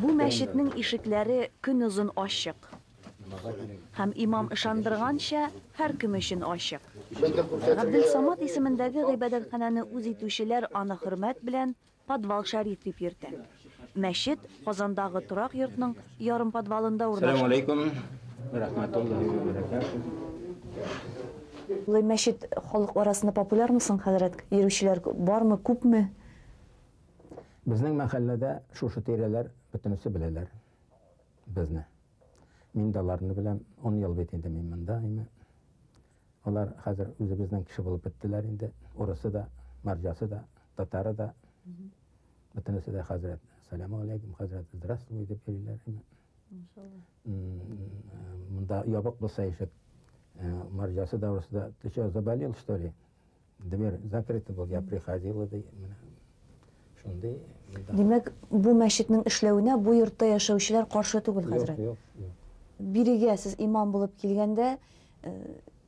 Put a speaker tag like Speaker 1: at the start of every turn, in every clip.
Speaker 1: Бу мәчетнең ишекләре көнозын ачык. Һәм имам ышандырганча, һәркем өчен ачык. Габделсамат исемендәге гыйбадәтханәне үз итүчеләр аны хөрмәт белән Подвал Шәриф дип йөртә. Мәчет Казандагы торак йортның ярым подвалында урнашкан. Сәлам алейкум
Speaker 2: вә
Speaker 1: рахматуллаһи вә бәрәкәтүһ. Мәчет халык арасында популярмы соң, хәзрәт? Йөрүчеләр бармы, күпме?
Speaker 2: Безнең мәхәлләдә шушы тирәләр бөтенесе беләләр безне. Мин дә аларны беләм. Он ел бит инде мин монда. Алар хәзер үзебезнең кеше булып беттеләр инде. Урысы да, марҗасы да, татары да. Бөтенесе дә хәзрәт. Сәләму алейкум, хәзрәт. Здравствуй дип йөриләр. Монда ябык булса ишек. Э, марҗасы да, урысы да. Ты что, заболел, что ли? Дверь закрыта был, я приходила, ди, менә. Шундый. Димәк,
Speaker 1: бу мәчетнең эшләвенә бу йортта яшәүчеләр каршы түгел, хәзрәт? Юк, юк, юк.
Speaker 2: Бирегә
Speaker 1: сез имам булып килгәндә, э,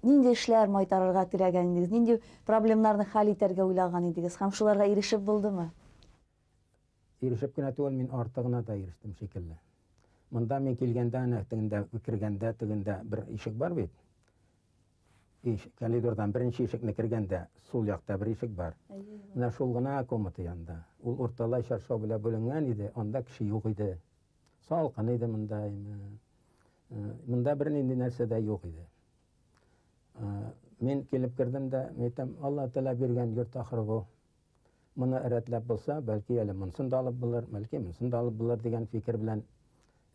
Speaker 1: нинди эшләр майтарырга теләгән идегез? Нинди проблемнарны хәл итәргә уйлаган идегез? Һәм шуларга ирешеп булдымы?
Speaker 2: Ирешеп кенә түгел, мин артыгына да ирештем шикелле. Монда мин килгәндә, әнә тегендә, кергәндә, тегендә бер ишек бар бит. иш, коридордан беренче ишекне кергәндә сул якта бер ишек бар. Менә шул гына комната янында. Ул урталай чаршау белән бүленгән иде, анда кеше юк иде. Салкын иде монда. Монда бер нинди нәрсә дә юк иде. Мин килеп кердем дә, әйтәм, Алла Тәгалә биргән йорт ахыры бу. Моны рәтләп булса, бәлки әле монсын да алып булыр, бәлки монсын да алып булыр дигән фикер белән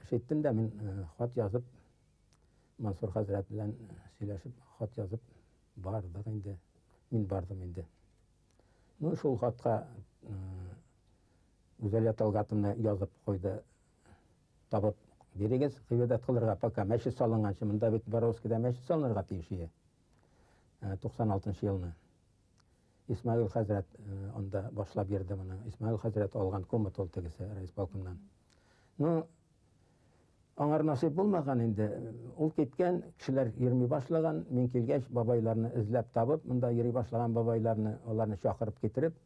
Speaker 2: эш иттем дә мин хат язып Мансур хәзрәт белән сөйләшеп, хат язып бардык инде. Мин бардым инде. Ну, шул хатка Гүзәлия Талгатовна язып куйды. Табып бирегез, гыйбадәт кылырга, пока мәчет салынганчы. Монда бит Боровскида мәчет салынырга тиеш иде. 96 э, елны. Исмаил хәзрәт э, анда башлап бирде моны. Исмаил хәзрәт алган комнат ул тегесе райисполкомнан. Ну, Аңар насыйп булмаган инде. Ул киткән, кешеләр йөрми башлаган. Мин килгәч, бабайларны эзләп табып, монда йөри башлаган бабайларны, аларны чакырып китереп,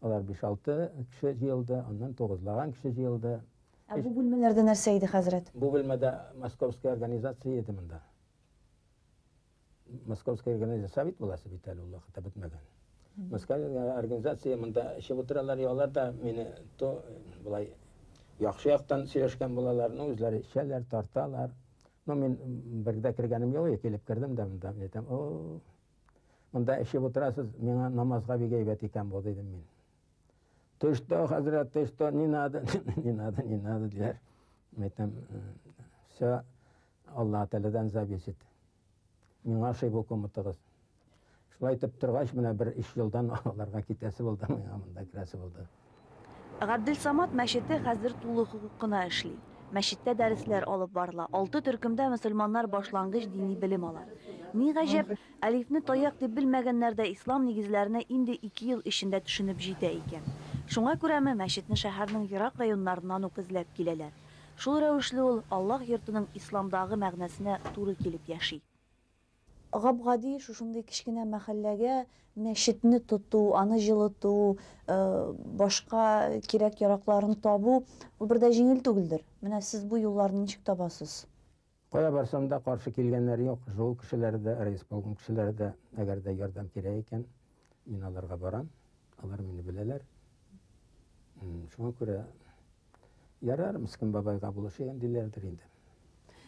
Speaker 2: алар биш-алты кеше җыелды, аннан тугызлаган кеше җыелды. Ә бу бүлмәләрдә
Speaker 1: нәрсә иде, хәзрәт? Бу бүлмәдә
Speaker 2: московский организация иде монда. Московская организация бит буласы бит әле ул вакытта бетмәгән. Московская организация монда эчеп утыралар, ялар да мине то былай яхшы яктан сөйләшкән булалар, но үзләре эчәләр, тарталар. Но мин бергә кергәнем юк, килеп кердем дә монда, әйтәм, о, монда эчеп утырасыз, миңа намазга бик әйбәт икән бу, дидем мин. Ты что, хәзрәт, ты что, не надо, не надо, не надо, диләр. Әйтәм, все, Аллаһ Тәгаләдән зависть ит. Миңа ошый бу коматыгыз. Шулай итеп торгач, менә бер өч елдан аларга китәсе булды, миңа монда керәсе булды. Габделсамат
Speaker 1: мәчете хәзер тулы хокукына эшли. Мәчеттә дәресләр алып барыла, алты төркемдә мөселманнар башлангыч дини белем ала. Ни гаҗәп, әлифне таяк дип белмәгәннәр дә ислам нигезләренә инде ике ел эчендә төшенеп җитә икән. Шуңа күрәме, мәчетне шәһәрнең ерак районнарыннан ук эзләп киләләр. Шул рәвешле ул Аллаһ йортының исламдагы мәгънәсенә туры килеп яши. Гап-гади шушындый кечкенә мәхәлләгә мәчетне тоту, аны җылыту, башка кирәк-яракларын табу, ул бер дә җиңел түгелдер. Менә сез бу юлларны ничек табасыз? Кая барсам
Speaker 2: да, каршы килгәннәр юк. Җол кешеләре дә, райисполком кешеләре дә, әгәр дә ярдәм кирәк икән, мин аларга барам. Алар мине беләләр. Шуңа күрә ярар, Мискин бабайга булышыйк диләрдер инде.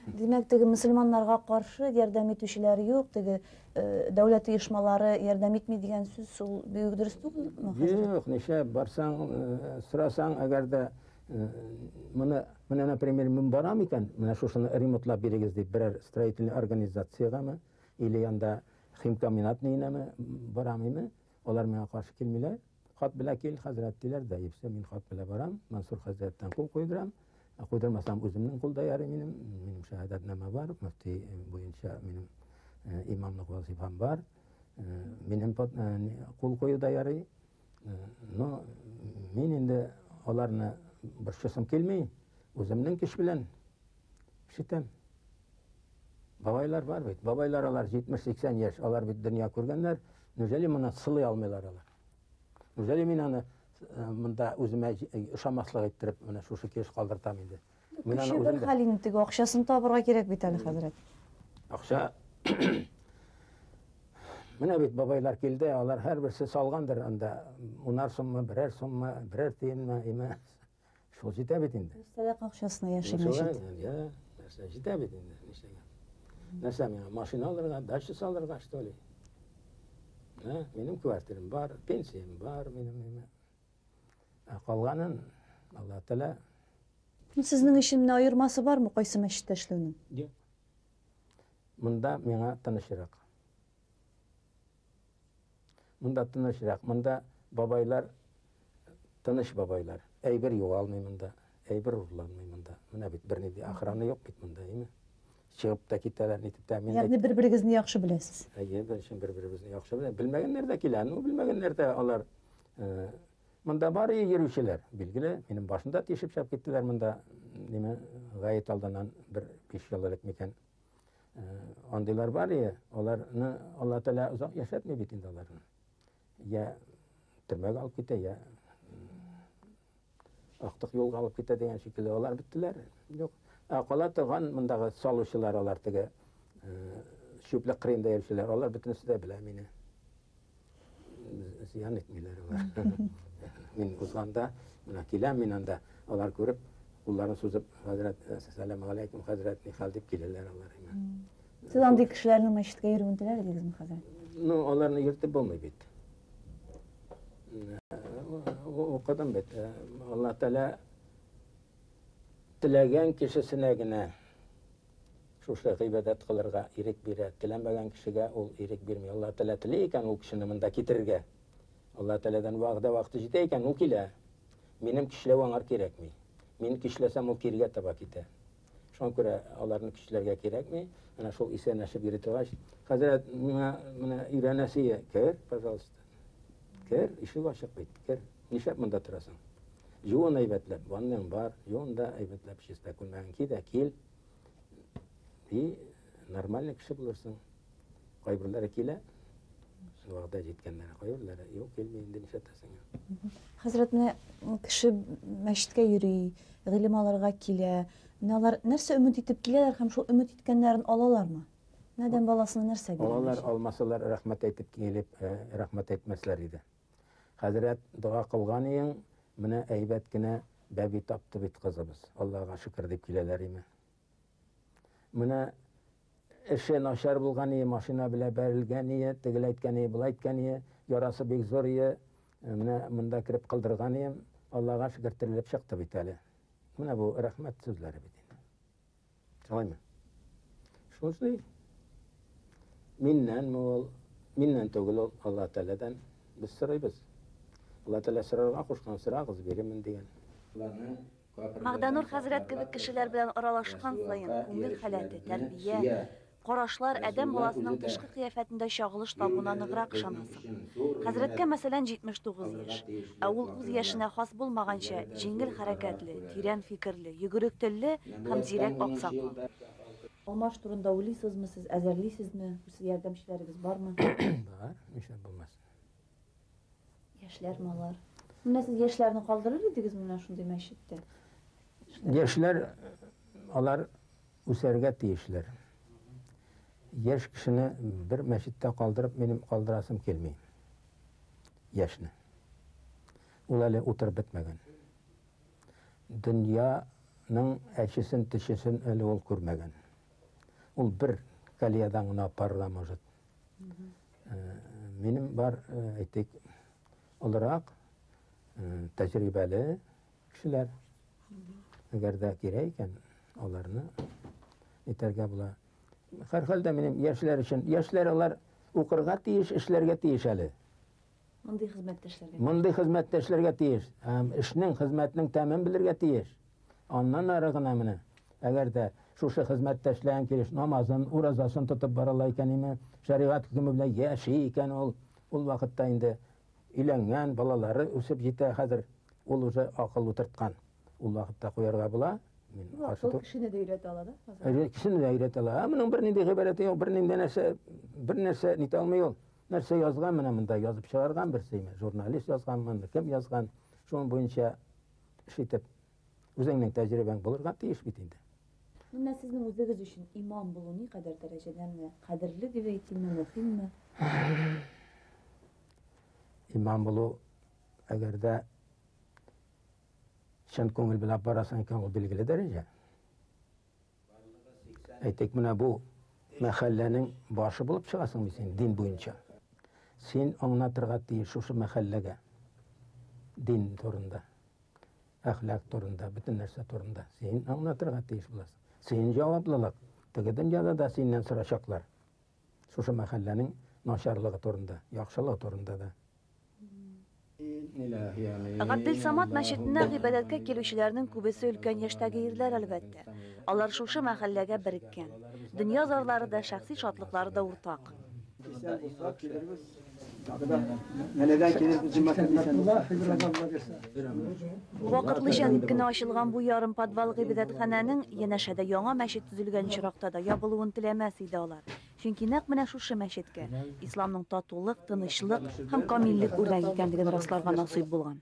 Speaker 2: Димәк,
Speaker 1: теге мөселманнарга каршы ярдәм итүчеләр юк, теге э, дәүләт оешмалары ярдәм итми дигән сүз ул бик дөрес түгелме? Юк, ничә
Speaker 2: барсаң, э, сорасаң, әгәр дә Моны, менә, например, мин барам икән, менә шушыны ремонтлап бирегез дип, берәр строительный организациягәме, или янда химкомбинат нигенәме барам име, алар миңа каршы килмиләр. Хат белә кил, хәзрәт диләр дә, ипсе, мин хат белә барам, Мансур хәзрәттән кул куйдырам. Ә куйдырмасам, үземнең кулда ярый минем, минем шәһадәтнамә бар, мөфти буенча минем имамлык вазифам бар. Минем кул куюда ярый. Но мин инде аларны борчысым килми, үземнең көч белән ишетәм. Бабайлар бар бит, бабайлар алар 70-80 яшь, алар бит дөнья күргәннәр, нүжәли моны сылый алмыйлар алар. Нүжәли мин аны э, монда үземә ошамаслык иттереп, менә шушы кеш калдыртам инде. Кеше бер хәл инде теге
Speaker 3: акчасын табырга кирәк бит әле хәзрәт. Акча
Speaker 2: Менә бит бабайлар килде, алар һәрберсе салгандыр анда унар суммы, берәр суммы, берәр тиенме, име. Шул җитә бит инде. Сәләк акчасына
Speaker 3: яшәгән җит. Я,
Speaker 2: нәрсә җитә бит инде, нишләгән. Нәрсә миңа машина алырга, дача салырга, что ли? Ә, минем квартирам бар, пенсиям бар, минем име. Ә калганын Алла Тәгалә. Сезнең
Speaker 3: өчен менә аермасы бармы кайсы мәчеттә эшләүнең? Юк.
Speaker 2: Монда миңа тынычрак. Монда тынычрак, монда бабайлар тыныч бабайлар. Әйбер югалмый монда, әйбер урламый монда. Менә бит берни ди охрана юк бит монда, әйме? Чыгып та китәләр, нитеп тә мин. Ягъни бер-берегезне яхшы
Speaker 3: беләсез. Әйе, беренче бер-беребезне
Speaker 2: яхшы белә. Белмәгәннәр дә килә, ну белмәгәннәр дә алар Э, монда бар и йөрүчеләр, билгеле, минем башында тишеп чап киттеләр монда, неме, гаит алданан бер биш ел элек микән. Э, андыйлар бар и, аларны Алла Тәгалә озак яшәтми бит инде аларны. Я төрмәгә алып китә, я Актык юлга алып китә дигән шикелле, алар беттеләр. Юк. Ә кала торган мондагы салучылар алар теге чүплек кырыенда йөрүчеләр, алар бөтенесе дә белә мине. Зыян итмиләр алар. Мин узганда, менә киләм мин анда, алар күреп, кулларын сузып, хәзрәт, сәлам алейкум, хәзрәт, нихәл дип киләләр алар. Сез андый
Speaker 3: кешеләрнең мәчеткә йөрүен теләр идегезме хәзер? Ну, аларны йөртеп
Speaker 2: булмый бит. Укыдым бит. Алла Тәлә теләгән кешесенә генә шушы гыйбадәт кылырга ирек бирә. Теләмәгән кешегә ул ирек бирми. Алла Тәлә тели икән ул кешене монда китерергә. Алла Тәләдән вәгъдә вакыты җитә икән, ул килә. Минем кишләү аңар кирәкми. Мин кишләсәм, ул киргә таба китә. Шуңа күрә аларны көчләргә кирәкми. Менә шул исәнләшеп йөри торгач, хәзрәт, миңа менә өйрәнәсе, кер, пожалуйста. Кер, ишек ачык бит, кер. Нишләп монда торасың? Юын әйбәтләп, ванның бар, юын да әйбәтләп, чиста күлмәген ки дә кил. И Нормальный кеше булырсың. Кайберләре килә, вәгъдә җиткәннәре, кайберләре юк, килми, инде нишләтәсең. Хәзрәт, менә
Speaker 3: кеше мәчеткә йөри, гыйлем алырга килә. Менә алар нәрсә өмет итеп киләләр һәм шул өмет иткәннәрен алалармы? Адәм баласына нәрсә бирә? Алалар, алмасалар,
Speaker 2: рәхмәт әйтеп килеп, э, рәхмәт әйтмәсләр иде. Хәзрәт, дога кылган иең, менә әйбәт кенә бәби тапты бит кызыбыз. Аллага шөкер дип киләләр име? Менә эше начар булган ие, машина белә бәрелгән ие, тегел әйткән ие, болай әйткән ие, ярасы бик зур ие. Э, менә монда кереп кылдырган ием, Аллага шөкер терелеп чыкты бит әле. Менә бу рәхмәт сүзләре бит инде. Шулаймы? Шундый. Миннән ул, миннән түгел ул, Алла Тәгаләдән без сорыйбыз. Алла Тәгалә сорарга кушкан, сорагыз, бирермен дигән. Алланы
Speaker 1: Магданур хәзрәт кебек кешеләр белән аралашкан саен, күңел халәте, тәрбия, карашлар адәм баласының тышкы кыяфәтендә чагылыш табуына ныграк ышанасың. Хәзрәткә, мәсәлән, 79 яшь, ә ул үз яшенә хас булмаганча җиңел хәрәкәтле, тирән фикерле, йөгерек телле һәм зирәк аксакал. Алмаш турында уйлыйсызмы сез, әзерлисезме? Үз ярдәмчеләрегез бармы? Бар,
Speaker 2: нишләп булмасын.
Speaker 3: Яшьләр малар. Менә сез яшьләрне калдырыр идегез менә шундый мәчеттә?
Speaker 2: Яшьләр алар үсәргә тиешләр. Яшь кешене бер мәчеттә калдырып минем калдырасым килми. Яшьне. Ул әле утырып бетмәгән. Дөньяның әчесен, тешесен әле ул күрмәгән. Ул бер колеядан гына апарыла может. Минем бар, әйтик, олырак, тәҗрибәле кешеләр. Әгәр дә кирәк икән, аларны итәргә була. Һәрхәлдә минем яшьләр өчен, яшьләр алар укырга тиеш, эшләргә тиеш әле. Мондый
Speaker 3: хезмәттәшләргә. Мондый хезмәттәшләргә
Speaker 2: тиеш. Һәм эшнең, хезмәтнең тәмен белергә тиеш. Аннан ары гына менә. Әгәр дә шушы хезмәттәшләрең килеш намазын, уразасын тотып баралар икән име, шәригать хөкеме белән яши икән ул, ул вакытта инде өйләнгән, балалары үсеп җитә хәзер, ул уже акыл утырткан. Ул вакытта куярга була. Акыл кешене дә
Speaker 3: өйрәтә ала да? Кешене дә өйрәтә
Speaker 2: ала. Ә моның бернинди гыйбарәте юк, бернинди нәрсә, бернәрсә нитә алмый ул. Нәрсә язган менә монда язып чыгарган берсеме? Журналист язганмы, кем язган? Шуның буенча эш итеп, үзеңнең тәҗрибәң булырга тиеш бит инде. Менә сезнең
Speaker 3: үзегез өчен имам булу ни кадәр дәрәҗәдән генә кадерле дип әйтимме, мөһимме?
Speaker 2: Имам булу, әгәр дә чын күңел белән барасың икән, ул билгеле дәрәҗә. Әйтик, менә бу мәхәлләнең башы булып чыгасың бит син дин буенча. Син аңнатырга тиеш шушы мәхәлләгә дин турында, әхлак турында, бөтен нәрсә турында. Син аңнатырга тиеш буласың. Син җаваплылык. Теге дөньяда да синнән сорашаклар. Шушы мәхәлләнең начарлыгы турында, яхшылыгы турында да.
Speaker 1: Габделсамат мәчетенә гыйбадәткә килүчеләрнең күбесе өлкән яшьтәге ирләр, әлбәттә. Алар шушы мәхәлләгә береккән. Дөнья зарлары да, шәхси шатлыклары да уртак. Вакытлыча дип кенә ачылган бу ярымподвал гыйбадәтханәнең, янәшәдә яңа мәчет төзелгән очракта да, ябылуын теләмәс иде алар. Чөнки нәкъ менә шушы мәчеткә Исламның татулык, тынычлык һәм камиллек үрнәге икәнлеген расларга насыйп булган.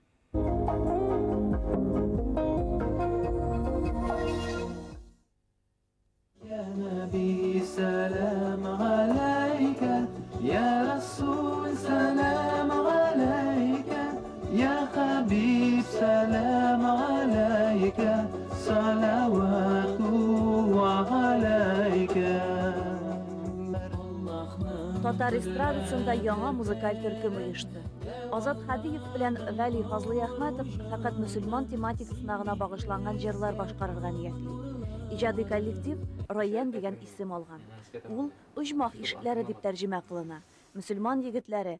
Speaker 4: Йә нәби, сәлам галәйкә, йә рәсүл, сәлам галәйкә. Йа хәбиб сәлам галәйкә саләвату вә галәйкә.
Speaker 1: Татар эстрадасында яңа музыкаль төркем оешты. Азат Хәдиев белән Вәли Фазлыйәхмәтов фәкать мөселман тематикасына гына багышланган җырлар башкарырга ниятли. Иҗади коллектив Райян дигән исем алган. Ул оҗмах ишекләре дип тәрҗемә кылына. Мөселман егетләре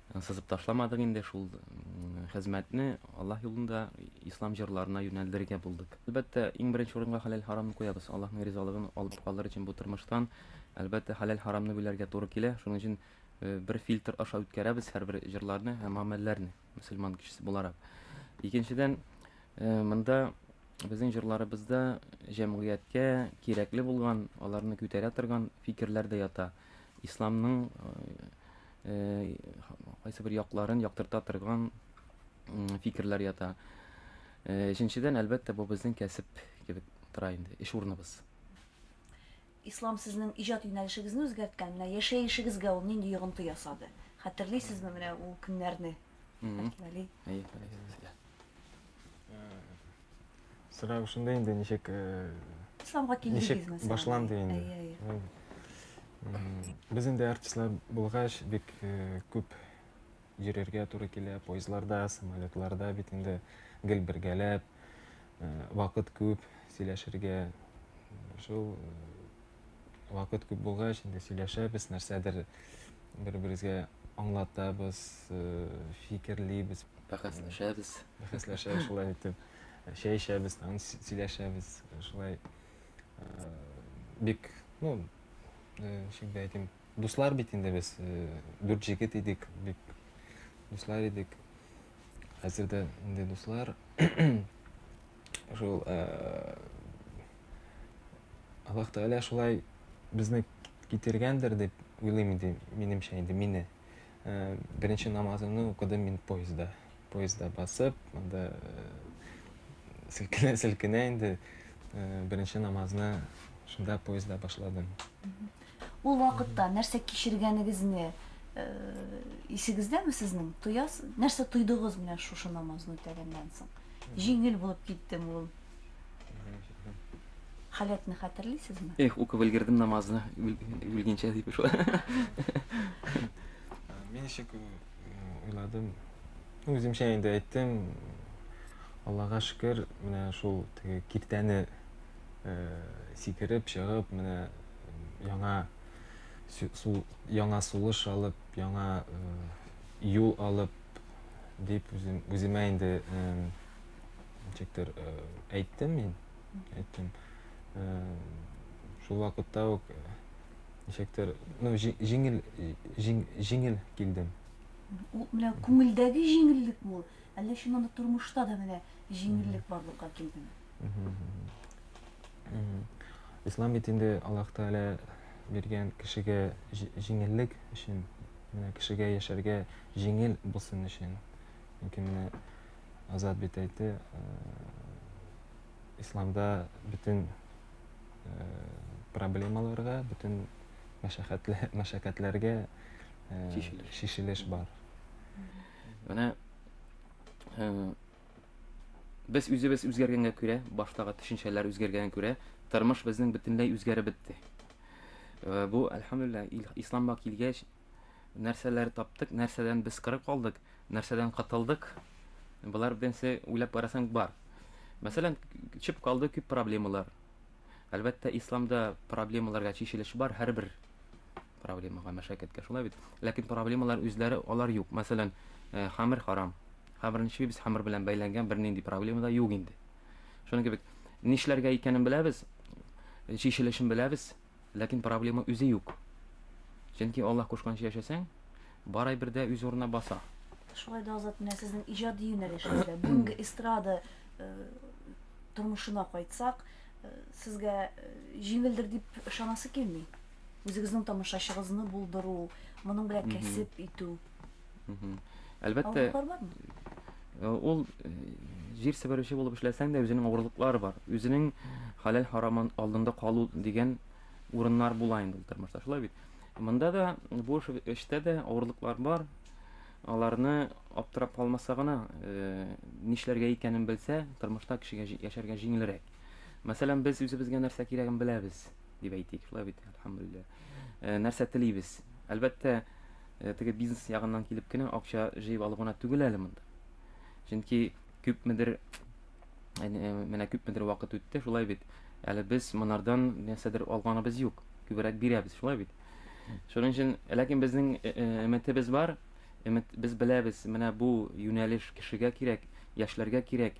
Speaker 5: Сызып ташламадык инде шул хезмәтне, Аллаһ юлында ислам җырларына юнәлдерергә булдык. Әлбәттә, иң беренче урынга хәләл-харамны куябыз. Аллаһның ризалыгын алып калыр өчен бу тормыштан, әлбәттә, хәләл-харамны белергә туры килә. Шуның өчен бер фильтр аша үткәрәбез һәрбер җырларны һәм гамәлләрне, мөселман кешесе буларак. Икенчедән, монда безнең җырларыбызда җәмгыятькә кирәкле булган, аларны күтәрә торган фикерләр дә ята. исламның кайсы бер якларын яктырта торган фикерләр ята. Өченчедән, әлбәттә, бу безнең кәсеп кебек тора инде, эш урыныбыз.
Speaker 1: Ислам сезнең иҗат юнәлешегезне үзгәрткән, менә яшәешегезгә ул нинди йогынты ясады? Хәтерлисезме менә ул көннәрне? Әйе, хәтерлисезгә.
Speaker 6: Сорау шунда инде ничек исламга
Speaker 1: килдегез мәсәлән? Башланды инде.
Speaker 6: Без инде артистлар булгач бик күп йөрергә туры килә, поездларда, самолетларда бит инде гел бергәләп, вакыт күп сөйләшергә. Шул вакыт күп булгач, инде сөйләшәбез, нәрсәдер бер-беребезгә аңлатабыз, э, фикерлибез. Бәхәсләшәбез.
Speaker 5: Бәхәсләшәбез шулай
Speaker 6: итеп. Чәй эчәбез, тагын сөйләшәбез. Шулай э, бик, ну, э, ничек дә әйтим, дуслар бит инде без. Э, дүрт җегет идек, бик дуслар идек. Хәзер дә инде дуслар. Шул э, Аллаһ Тәгалә шулай безне китергәндер дип уйлыйм инде, минемчә инде мине. Э, Беренче намазымны укыдым мин поездда. Поездда басып, анда э, селкенә селкенә инде э, беренче намазны шунда поездда башладым. Ул
Speaker 1: вакытта нәрсә кичергәнегезне исегездәме сезнең? Тояс, нәрсә тойдыгыз менә шушы намазны үтәгәннән соң? Җиңел булып киттем ул. Халәтне хәтерлисезме? Эх, укып өлгердем
Speaker 5: намазны, үлгенчә дип шулай.
Speaker 6: Мин ничек уйладым? Үземчә инде әйттем. Аллага шөкер, менә шул теге киртәне сикереп чыгып, менә яңа яңа сулыш алып, яңа юл алып дип үзем, үземә инде ничектер әйттем мин. Әйттем. Шул вакытта ук ничектер, ну, җиңел, җиңел килдем. Ул менә
Speaker 1: күңелдәге җиңеллек бу. Әллә чыннан да тормышта да менә җиңеллек барлыкка килдеме?
Speaker 6: Ислам бит инде Аллаһ Тәгалә биргән кешегә җиңеллек өчен, менә кешегә яшәргә җиңел булсын өчен. Чөнки менә Азат бит әйтте, э, исламда бөтен э, проблемаларга, бөтен мәшәкатьләргә э, шешелеш бар.
Speaker 5: Менә Без үзебез үзгәргәнгә күрә, баштагы төшенчәләр үзгәргәнгә күрә, тормыш безнең бөтенләй үзгәреп бетте. Э, бу, әлхәмдулилла, исламга килгәч, нәрсәләр таптык, нәрсәдән без кырып калдык, нәрсәдән кытылдык, болар бенсе уйлап карасаң бар. Мәсәлән, чып калды күп проблемалар. Әлбәттә, исламда проблемаларга чишелеш бар, һәрбер проблемага, мәшәкатькә. Шулай бит? Ләкин проблемалар үзләре алар юк. Мәсәлән, э, хамер харам. Хамерне чибибез, хамер белән бәйләнгән бернинди проблема да юк инде. Шуның кебек нишләргә икәнен беләбез, чишелешен беләбез, ләкин проблема үзе юк. Чөнки Аллаһ кушканча яшәсәң, бар әйбер дә үз урынына баса. Шулай да Азат,
Speaker 1: менә сезнең иҗади юнәлешегездә бүгенге эстрада э, тормышына кайтсак, э, сезгә э, җиңелдер дип ышанасы килми. үзегезнең тамашачыгызны булдыру, моның белән кәсеп итү.
Speaker 5: Әлбәттә, э,
Speaker 1: ул
Speaker 5: э, җир себерүче булып эшләсәң дә үзенең авырлыклары бар. Үзенең халәл харамын алдында калу дигән урыннар була инде ул тормышта. Шулай бит. Монда да бу эштә дә авырлыклар бар. Аларны аптырап калмаса гына, э, нишләргә икәнен белсә, тормышта кешегә яшәргә җиңелрәк. Мәсәлән, без үзебезгә нәрсә кирәген беләбез. дип әйтик, шулай бит, әлхәмдулилла. Э, нәрсә телибез? Әлбәттә, э, теге бизнес ягыннан килеп кенә акча җыеп алу гына түгел әле монда. Чөнки күпмедер э, менә күпмедер вакыт үтте, шулай бит. Әле без монардан нәрсәдер алганыбыз юк. Күбрәк бирәбез, шулай бит. Шуның өчен, ләкин безнең өметебез бар, өмет без беләбез, менә бу юнәлеш кешегә кирәк, яшьләргә кирәк,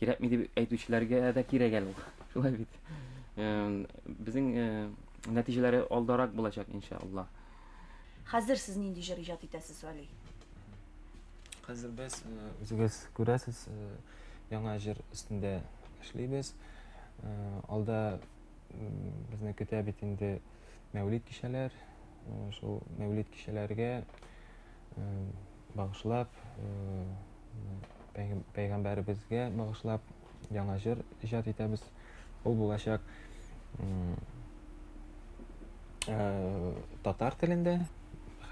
Speaker 5: кирәкми дип әйтүчеләргә дә кирәк әле ул. Шулай бит. Безнең нәтиҗәләре алдарак булачак, иншалла. Хәзер
Speaker 1: сез нинди җыр иҗат итәсез, Вәли?
Speaker 6: Хәзер без үзегез күрәсез, яңа җыр өстендә эшлибез. Алда безне көтә бит инде Мәүлид кичәләр. Шул Мәүлид кичәләргә багышлап, пәйгамбәребезгә багышлап яңа җыр иҗат итәбез. Ул булачак э, татар телендә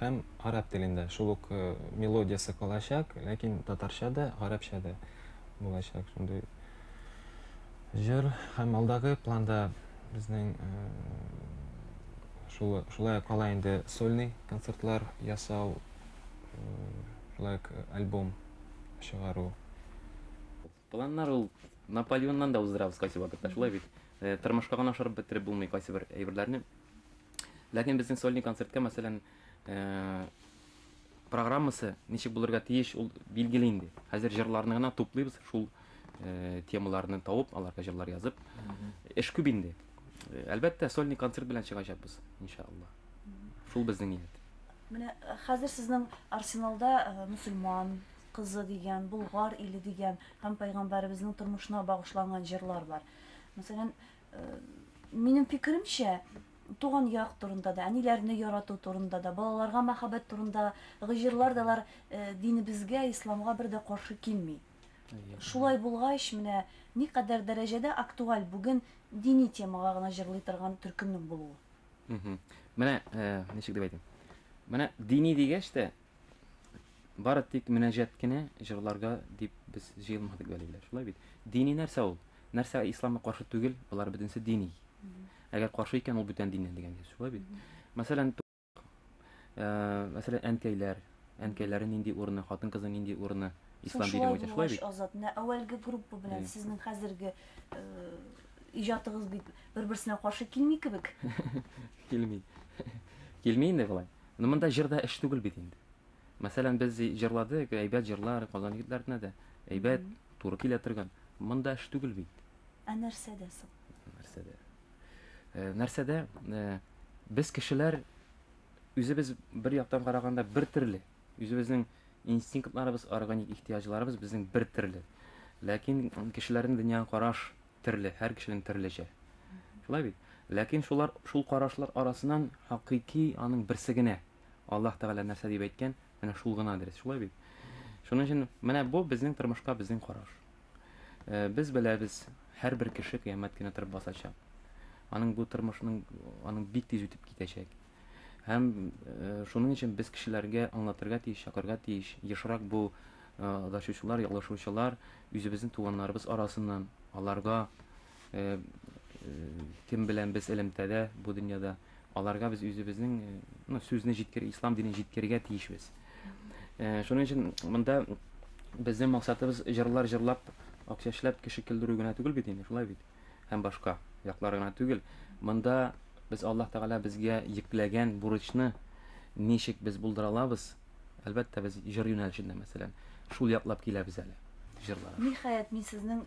Speaker 6: һәм гарәп телендә. Шул ук э, мелодиясе калачак, ләкин татарча да, гарәпчә дә булачак. Шундый җыр һәм алдагы планда безнең э, шулай кала инде сольный концертлар ясау шулай альбом чыгару.
Speaker 5: Планнар ул Наполеоннан да уздырабыз кайсы вакытта, шулай бит. Э, тормышка гына ашырып бетереп булмый кайсы бер әйберләрне. Ләкин безнең сольный концертка, мәсәлән, э, программасы ничек булырга тиеш, ул билгеле инде. Хәзер җырларны гына туплыйбыз, шул э, темаларны тауып, аларга җырлар язып. Эш күп инде. Әлбәттә, сольный концерт белән чыгачакбыз, иншалла. Шул безнең ният. Менә
Speaker 1: хәзер сезнең арсеналда мөселман кызы дигән, Болгар иле дигән һәм Пәйгамбәребезнең тормышына багышланган җырлар бар. Мәсәлән, минем фикеремчә, туган як турында да, әниләрне ярату турында да, балаларга мәхәббәт турында җырлар да алар э, динебезгә, исламга бер дә каршы килми. Шулай булгач, менә никадәр дәрәҗәдә актуаль бүген дини темага гына җырлый торган төркемнең булуы. Менә
Speaker 5: э, ничек дип әйтим. Менә дини дигәч тә бары тик мөнәҗәт кенә җырларга дип без җыелмадык бәлиләр. Шулай бит. Дини нәрсә ул? Нәрсә исламга каршы түгел? Болар бөтенесе дини. Әгәр каршы икән, ул бүтән диннән дигән сүз. Шулай бит. Мәсәлән, Мәсәлән, әнкәйләр, әнкәйләре нинди урыны, хатын-кызның нинди урыны ислам дине буенча шулай бит? Азат, менә әүвәлге
Speaker 1: группа белән сезнең хәзерге иҗатыгыз бит бер-берсенә каршы килми кебек. Килми.
Speaker 5: Килми инде болай. Но монда җырда эш түгел бит инде. Мәсәлән, без җырладык, әйбәт җырлар, Казан егетләренә дә әйбәт, туры килә торган. Монда эш түгел бит. Ә нәрсәдә
Speaker 1: соң? Нәрсәдә?
Speaker 5: нәрсәдә без кешеләр үзебез бер яктан караганда бер төрле үзебезнең инстинктларыбыз органик ихтыяҗларыбыз безнең бер төрле ләкин кешеләрнең дөньяга караш төрле һәр кешенең төрлечә шулай бит ләкин шулар шул карашлар арасыннан хакыйки аның берсе генә аллаһ тәгалә нәрсә дип әйткән менә шул гына дөрес шулай бит шуның өчен менә бу безнең тормышка безнең караш Без беләбез, һәрбер кеше кыямәт көне торып басачак. Аның бу тормышның аның бик тиз үтеп китәчәк. Һәм шуның өчен без кешеләргә аңлатырга тиеш, чакырга тиеш, ешрак бу адашучылар, ялгышучылар үзебезнең туганнарыбыз арасыннан аларга Кем белән без элемтәдә бу дөньяда, аларга без үзебезнең ну, сүзне җиткер, ислам динен җиткерергә тиешбез. Шуның өчен монда безнең максатыбыз җырлар җырлап, акча эшләп кеше көлдерү генә түгел бит инде, шулай бит. Һәм башка яклар гына түгел. Монда без Аллаһ Тәгалә безгә йөкләгән бурычны ничек без булдыра алабыз? Әлбәттә, без җыр юнәлешендә, мәсәлән, шул яклап киләбез әле җырлар. Ниһаять, мин сезнең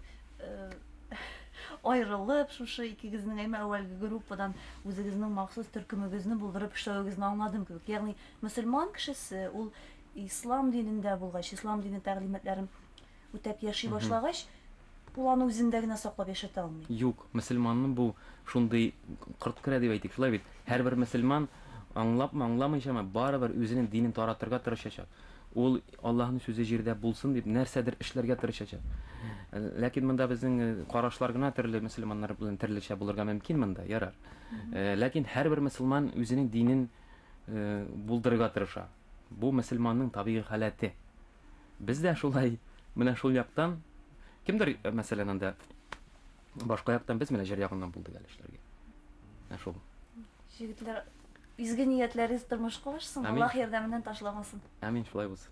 Speaker 1: аерылып, шушы икегезнең әмма әүвәлге группадан үзегезнең махсус төркемегезне булдырып эшләвегезне аңладым кебек. Ягъни мөселман кешесе ул ислам динендә булгач, ислам дине тәгълиматларын үтәп яши башлагач, Ул аны үзендә генә саклап яшәтә алмый. Юк, мөселманны
Speaker 5: бу шундый корт керә дип әйтик, шулай бит? Һәрбер мөселман, аңлапмы, аңламыйчамы, барыбер үзенең динен таратырга тырышачак. Ул, Аллаһның сүзе җирдә булсын дип, нәрсәдер эшләргә тырышачак. Ләкин монда безнең карашлар гына төрле, мөселманнар белән төрлечә булырга мөмкин монда, ярар. Ләкин һәрбер мөселман үзенең динен булдырырга тырыша. Бу мөселманның табигый халәте. Без дә шулай, менә шул яктан, кемдер, мәсәлән, анда башка яктан без менә җыр ягыннан булдык әле эшләргә. Ә шул. Җегетләр,
Speaker 1: изге ниятләрегез тормышка ашсын, Аллаһ ярдәменнән ташламасын. Амин, шулай булсын.